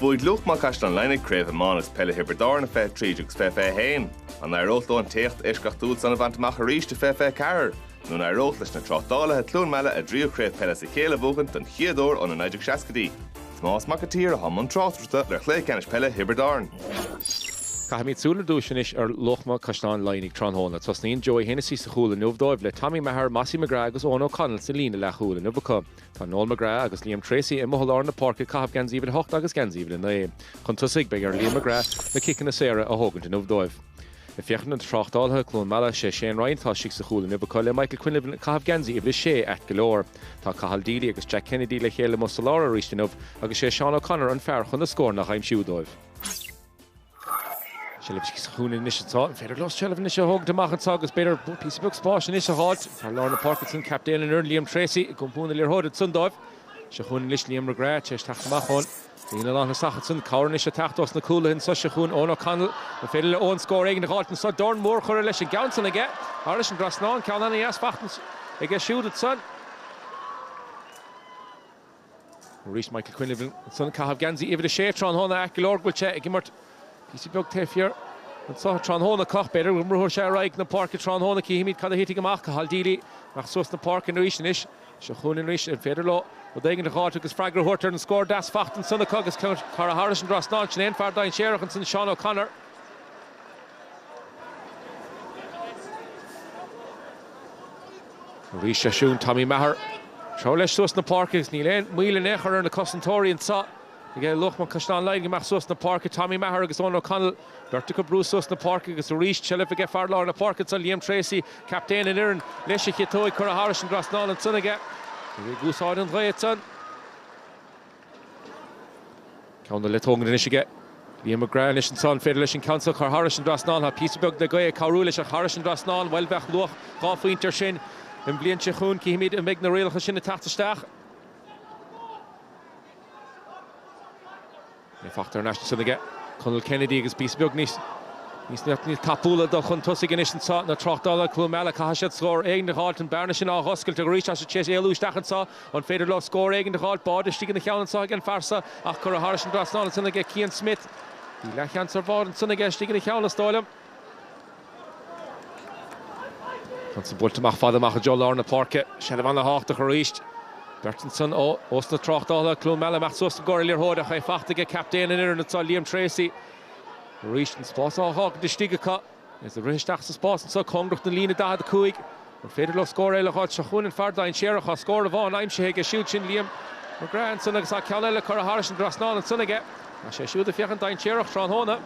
Bhuaigh Luachma Caisleán Laighnigh Craobh Iomána is Peile Thiobraid Árann i 2013 agus 2021. An éireodh leo an t-éacht eisceachtúil san a bhaint amach arís i 2024? Nó an éireodh leis na Tráchtálaithe, Cluain Meala, a dtríú Craobh Peile as a chéile a bhuachaint don chéad uair ó na 1960idí? Tomás Mac an tSaoir atá i mbun tráchtaireachta ar chluiche ceannais peile Thiobraid Árann. Caithfimid súil ar dtúis anois ar Luachma, Caisleán Laighnigh tráthnóna. Tosnaíonn Joey Hennessy sa chúl inniu dóibh, le Tommy Maher, Mossie McGrath agus Eoghan O'Connell sa líne leathchúil inniu acu. Tá Noel McGrath agus Liam Treacy amuigh i lár na páirce ag caitheamh geansaí uimhir a hocht agus geansaí uimhir a naoi. Chun tosaigh, beidh ar Liam McGrath na ciceanna saora a thógaint inniu dóibh. Ag féachaint na tráchtálaithe, Cluain Meala, sé Shane Ryan atá istigh sa chúl inniu acu le Michael Quinlivan ag caitheamh geansaí uimhir a sé ait go leor. Tá Cathal Deely agus Jack Kennedy le chéile amuigh sa lár arís inniu agus sé Seán O'Connor an fear chun na scóranna a dh'aimsiú dóibh. Seilbh istigh sa chúinne anois anso an féidir leo seilbh anois a thógaint amach anseo agus b'fhéidir píosa beag spáis anois a dh'fháilt thar lár na páirce ansan captaen an fhoireann Liam Treacy ag iompar na liathróide ansan dóibh. Seo chugainn anois Liam McGrath tar éis teacht amach ón líne lántosaigh acu san. Cabhair anois ag teacht ós na cúlaithe anso. Seo chugainn Eoghan O'Connell. An féidir le Eoghan scór éigin a dh'fháilt anso? Dorn mór curtha leis an gceann san aige. Thairis an dtrasnán. Ceann ana dheas fachta aige siúd ansan. Arís Michael Quinlivan ansan ag caitheamh geansaí uimhir a sé tráthnóna. Ait go leor go bhfuil sé ag imirt píosa beag taobh thiar anso tráthnóna. Ach b'fhéidir go mbrúfaidh sé ar aghaidh na páirce tráthnóna. Cífimid cad a thitfidh amach. Cathal Deely, amach suas na páirce arís anois. Seo chugainn arís an féidir leo rud éigin a dh'fháilt agus freagra a thabhairt ar an scór deas fachta ansan acu agus ceann curtha thairis an dtrasnán ansan. An fear dainséarach ansan Seán O'Connor. Arís seo chugainn Tommy Maher. Treabhadh leis suas na páirce agus níl aon moill in aon chor ar na cosantóirí anseo. Aige Luachma Caisleán Laighnigh amach suas na páirce Tommy Maher agus Eoin O'Connell. Beirt acu ag brú suas na páirce agus arís seilbh aige fear láir na páirce ansan, Liam Treacy, captaen an fhoireann. Leis a chiotóig curtha thairis an dtrasnán ansan aige. Ag úsáid an ghaoth ansan. Ceann le tógaint anois aige, Liam McGrath, anois ansan, an féidir leis an ceann seo a chur thairis an dtrasnán. Tá píosa beag de ghaoth ag cabhrú leis thairis an dtrasnán. Bhuel, bheadh luach dhá phointe air sin. An bhliain seo chugainn, cífimid an mbeidh na rialacha sin ag teacht isteach. É fachta thar n-ais ansan aige. Conal Kennedy agus píosa beag níos níos tapúla dul chun tosaigh anois anseo. Na Tráchtálaithe, Cluain Meala, caithfidh siad scór éigin a dh'fháilt, an bearna sin a dh'oscailt arís is é tar éis éalú isteach anseo. An féidir leo scór éigin a dh'fháilt? Báide istigh ina cheann anseo ag an bhfear seo ach curtha thairis an dtrasnán ansan aige Cian Smith. Bhí leathsheans ar bháide ansan aige istigh ina cheann, is dóigh liom. Ceann san buailte amach fada amach i dtreo lár na páirce. Seilbh ana-thábhachtach arís. Beirt ansan ós na Tráchtálaithe, Cluain Meala, amach suas i gcomhair an liathróid ach é fachta aige captaen an fhoireann anseo, Liam Treacy. Arís an spás á dh'fhágaint istigh acu agus ag rith isteach sa spás anseo cóngarach don líne 45. An féidir leo scór eile a dh'fháilt? Seo chugainn an fear dainséarach, tá scór amháin aimsithe aige siúd sin Liam McGrath ansan agus tá ceann eile curtha thairis an dtrasnán ansan aige. Tá sé siúd ag féachaint dainséarach tráthnóna.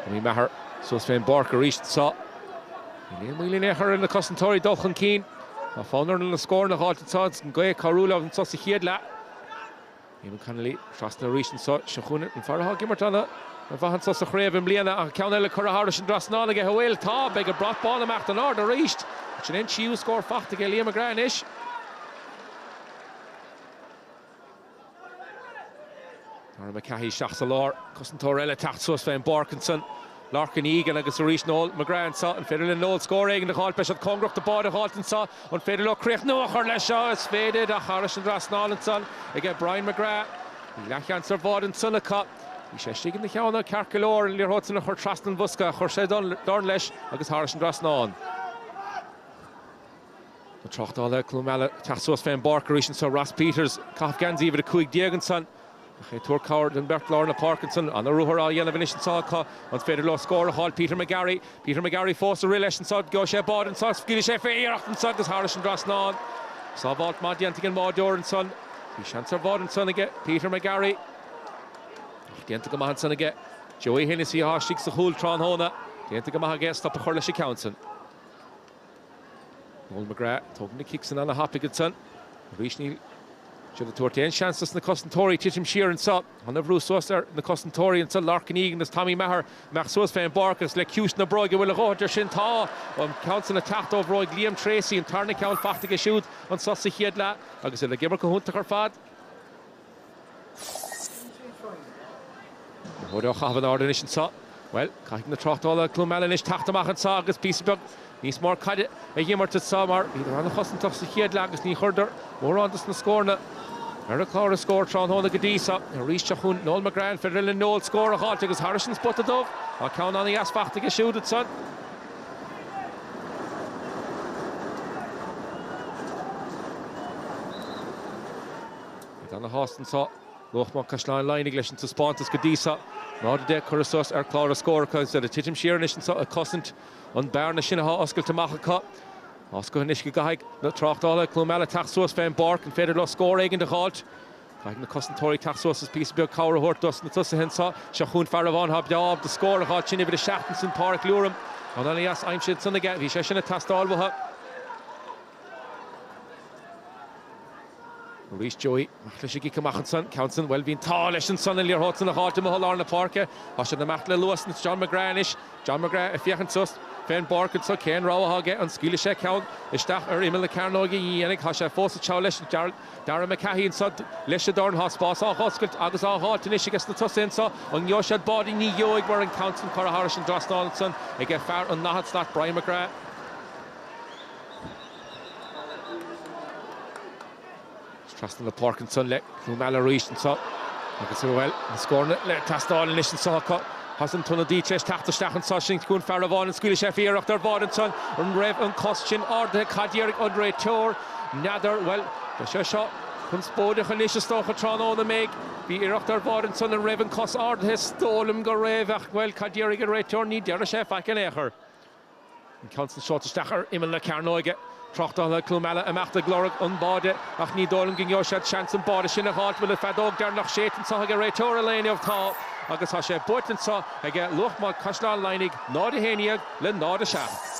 Tommy Maher suas fén bpáirc aríst anso. Níl aon mhoill in aon chor ar na cosantóirí dul chun cinn. Tá fonn orthu na scóranna a dh'fháilt anso is an ghaoth ag cabhrú leo anso sa chéad leath. Eamonn Connolly trasna arís anseo. Seo chugainn an fear atá ag imirt ana mhaith anseo sa chraobh i mbliana tá ceann eile curtha thairis an dtrasnán aige. An bhfuil? Tá. Beidh an brat bán ag imeacht in airde arís. Sin é an tríú scór fachta aige Liam McGrath anois. Darragh McCahey isteach sa lár. Cosantóir eile teacht suas fén bpáirc ansan. Lorcan Egan agus arís Noel McGrath anseo. An féidir le Noel scór éigin a dh'fháilt? Beidh siad cóngarach do bháide a dh'fháilt anseo. An féidir leo críochnú a chur leis seo? Is féidir, ach thairis an dtrasnán ansan aige Brian McGrath. Bhí leathsheans ar bháide ansan acu. Bhí sé istigh ina cheann ceart go leor. An liathróid san a chur trasna an bhosca ach chuir sé dorn leis agus thairis an dtrasnán. Na Tráchtálaithe Cluain Meala ag teacht suas fén bpáirc arís anseo. Ross Peters, ag caitheamh geansaí uimhir a cúig déag ansan. Ach ag tabhairt cabhair don bheirt lár na páirce ansan. An-ruathar á dhéanamh anois ansan acu. An féidir leo scór a fháil? Peter McGarry. Peter McGarry fós ag rith leis ansan. Gheobhaidh sé báide ansan. Scaoilfidh sé fé iarracht ansan agus thairis an dtrasnán. Sábháilt maith déanta ag an mbáideoir ansan. Bhí seans ar bháide ansan aige Peter McGarry. Ach déanta go maith ansan aige Joey Hennessy athá istigh sa chúl tráthnóna. Déanta go maith aige stop a chur leis an gceann san. Noel McGrath, tógann an cic san ana thapaidh ansan. Arís níl siad ag tabhairt aon seans dos na cosantóirí titim siar anseo. Ana bhrú suas ar na cosantóirí ansan, Lorcan Egan agus Tommy Maher imeacht suas fé an bpáirc agus le ciumhais na bróige an bhfuil a dhóthaint ar sin? Tá! An ceann san ag teacht ó bhróig Liam Treacy, an tarna ceann fachta aige siúd anso sa chéad leath agus iad ag imirt go hiontach ar fad. Liathróid á chaitheamh in airde anois anseo. Bhuel, caithfidh na Tráchtálaithe Cluain Meala anois teacht amach anseo agus píosa beag níos mór caide a imirt anseo mar bhíodar an-chosantach sa chéad leath agus ní chuireadar mórán dos na scóranna ar chlár na scór tráthnóna go dtí seo. Arís, seo chugainn Noel McGrath, an féidir le Noel scór a fháilt agus thairis an spota dubh, tá ceann ana dheas fachta aige siúd anseo. Beid ana shásta anseo Luachma Caisleán Laighnigh leis an taispeántas go dtí seo. 0-10 curtha suas ar chlár na scór acu agus iad ag titim siar anois anseo ag cosaint an bearna sin athá oscailte amach acu. Tá a fhios acu anois go gcaithfidh na Tráchtálaithe Cluain Meala teacht suas fén bpáirc. An féidir leo scór éigin a dh'fháilt? Caithfidh na cosantóirí teacht suas is píosa beag cabhair a thabhairt dos na tosaithe anseo. Seo chughainn fear amháin athá breá ábalta scór a dh'fháilt sin uimhir a seacht ansin Pádraic Looram. Ceann ana dheas aimsithe ansan aige. Bhí sé sin ag teastáil uathu. Arís Joey amach leis an gcic amach ansan. Ceann san, bhuel, bhí an t-ádh leis ansan, an liathróid san a dh'fháilt amuigh i lár na páirce. Tá siad ag imeacht le luas anois John McGrath anois. John McGrath ag féachaint suas fén bpáirc anso, cén rogha atá aige, an scaoilfidh sé ceann isteach ar imeall na cearnóige? Ní dhéanfaidh, tá sé fós ag teacht leis, Darragh McCahey anso leis an dorn, tá spás á dh'oscailt agus á dh'fháilt anois aiges na tosaigh anso, an ngeobhaidh siad báide? Ní gheobhaidh mar an ceann san curtha thairis an dtrasnán ansan ag fear an ndaichead slat, Brian McGrath. Trasna na páirce ansan le Cluain Meala arís anso agus, bhuel, na scóranna le teastáil anois anso acu. Agus an t-ionadaí tar éis teacht isteach anso, sin chun fear amháin, an scaoilfidh sé? Bhí iarracht ar bháide ansan? An raibh an cos sin ardaithe? Cad déarfaidh an réiteoir? N'fheadar, bhuel, beidh sé seo conspóideach anois is dócha, tráthnóna, an mbeidh? Bhí iarracht ar bháide ansan, an raibh an cos ardaithe? Is dóigh liom go raibh ach, bhuel, cad déarfaidh an réiteoir? Ní déarfaidh sé faic in aon chor. An ceann san seolta isteach ar imeall na cearnóige. Tráchtálaithe Chluain Meala ag imeacht ag lorg an báide ach ní dóigh liom go ngeobhaidh siad seans an báide sin a dh'fháilt an bhfuil an feadóg deireanach séidte anso ag an réiteoir an lae inniu tá agus tá sé buaite anso aige Luachma Caisleán Laighnigh 0, 11 le 0, 7.